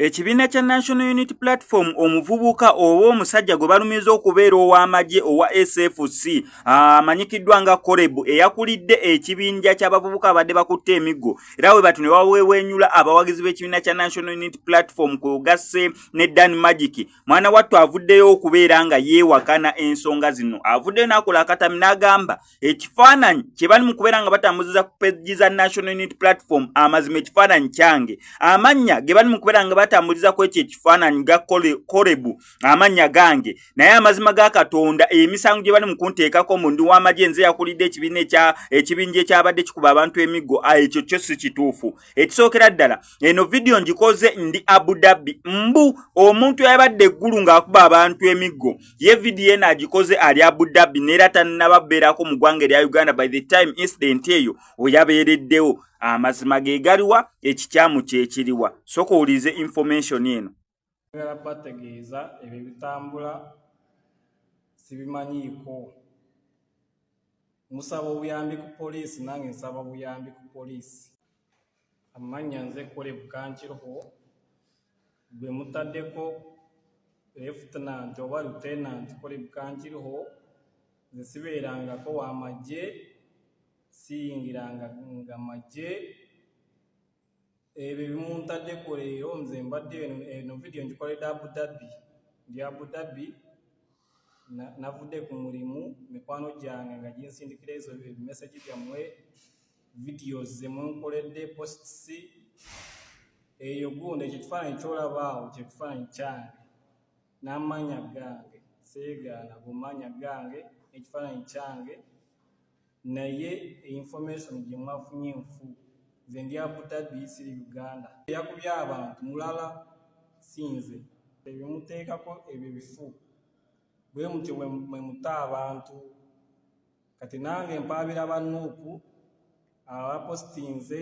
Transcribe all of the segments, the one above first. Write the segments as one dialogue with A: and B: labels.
A: Ekibiina kya National Unity Platform omuvubuka oba omusajja gwe balumiza okubeera ow'amagye owa SFC amanyikiddwa nga Koreb eyakulidde ekibinja ky'abavubuka abadde bakutte emiggo era we bati ne baweeweenyula abawagizi b'ekibiina kya National Unity Platform kwe ogasse ne Dan Magic mwana wattu avuddeyo okubeera nga yeewakana ensonga zino avuddeyo n'akola akatami n'agamba ekifaananyi kye bali mu kubeera nga batambuziza ku peji za National Unity Platform amazima ekifaananyi kyange amannya ge bali mu kubeera nga batambuliza ku ekyo ekifaananyi ga korebu amannya gange naye amazima ga Katonda emisango gye bali mu kunteekako mu ndi w'amagye nze yakulidde ekibiina ekya ekibinja ekyabadde kikuba abantu emiggo ekyo kyo si kituufu ekisookera ddala eno vidiyo ngikoze ndi abu dhabi mbu omuntu yabadde eggulu ng'akuba abantu emiggo ye vidiyo eno agikoze ali abu dhabi neera tannaba beerako mu ggwanga erya uganda by the time incident eyo oyabeereddewo amazima ge galiwa ekikyamu kyekiriwa sooka owulize information eno Njagala kubategeeza
B: ebyo ebitambula sibimanyiiko. Musaba obuyambi ku poliisi nange nsaba buyambi ku poliisi. Amannya nze Kole Bukankiroho gwe mutaddeko Lieutenant oba Lieutenant Kole Bukankiroho nze sibeerangako wa magye siyingiranga nga magye ebyo ebimuntaddeko leero nze mbadde eno vidiyo ngikoledde abu dhabi ndi abu dhabi navudde ku mulimu mikwano gyange nga ginsindikira ezo ebimesagi byammwe vidiyo zemunkoledde posts eyo gundi ekyo kifaananyi kyolabaawo kyekifaananyi kyange n'amaanya gange seegaana gumaanya gange ekifaananyi kyange naye information gye mwafunye nfu nze ndi abutabi siri uganda yakubye abantu mulala sinze ebimuteekako ebyo bifu bwe mutyo mwe muta abantu kati nange mpaabira banuupu abapositinze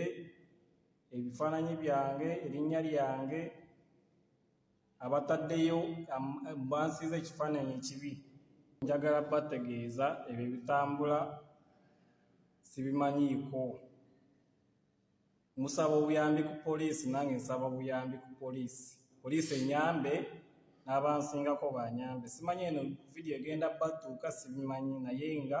B: ebifaananyi byange erinnya lyange abataddeyo bansiiza ekifaananyi ekibi njagala bategeeza ebyo ebitambula sibimanyiiko musaba obuyambi ku poliisi nange nsaba buyambi ku poliisi poliisi enyambe n'abansingako banyambe simanyi eno vidiyo egenda batuuka sibimanyi naye nga